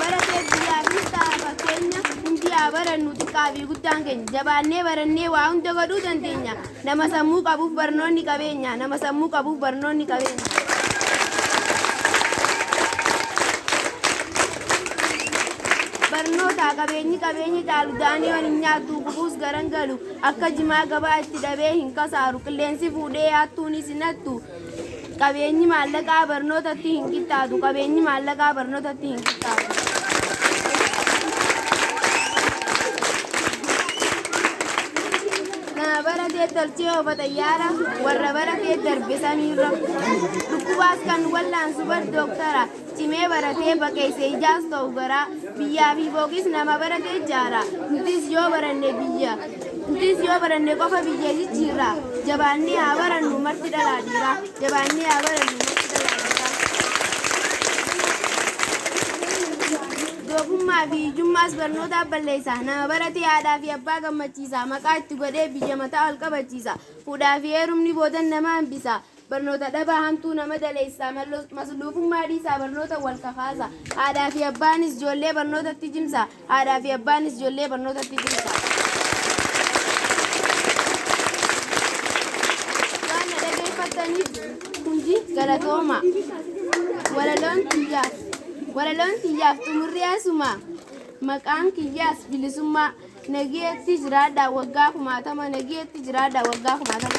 baratee biyyaafis ta'a fakkeenya hundi haa barannu xiqqaa fi guddaan keenya jabaannee barannee waa hunda godhuu dandeenya nama sammuu qabuuf barnoonni qabeenya nama sammuu qabuuf barnoonni qabeenya. barnootaa qabeenyi qabeenyi caalu daaniyoon hin nyaattu gubuus garan galu akka jimaa gabaa itti dhabee hin kasaaru qilleensi fuudhee yaattuunis hin hattu Qabeenyi maallaqaa barnootatti hin qixxaatu. Qabeenyi maallaqaa barnootatti hin qixxaatu. Nama bara kee tolchee ofa xayyaara warra bara kee darbe samiirra. Dhukkubaas kan wallaansu bar dooktara. Cimee baratee baqeesse ijaas ta'u garaa, biyyaa fi booqis nama barate ijaara. Nutis yoo baranne biyya, nutis yoo baranne qofa biyya jijjiirra. Jabaannee haa barannu marti dhalaa dhiiraa, jabaannee haa barannu marti dhalaa dhiiraa. Doofummaa fi hiyyummaas barnootaaf balleessa. Nama baratee haadhaa fi abbaa gammachiisa. Maqaa itti godhee biyya mataa ol qabachiisa. Fuudhaa fi heerumni boodan nama hambisa. Barnoota dhabaa hamtuu nama daleessaa masluufummaa dhiisaa barnoota wal kakaasaa haadhaa fi abbaanis joollee barnootatti jimsaa haadhaa fi abbaanis joollee barnootatti jimsaa. Waan na dhageeffattaniif hundi galatooma. Walaloon tiyyaaf walaloon tiyyaaf xumurri asuma maqaan kiyyaas bilisummaa. Nagiyeetti jiraadhaa waggaa kumaatama Nagiyeetti jiraadhaa waggaa kumaatama.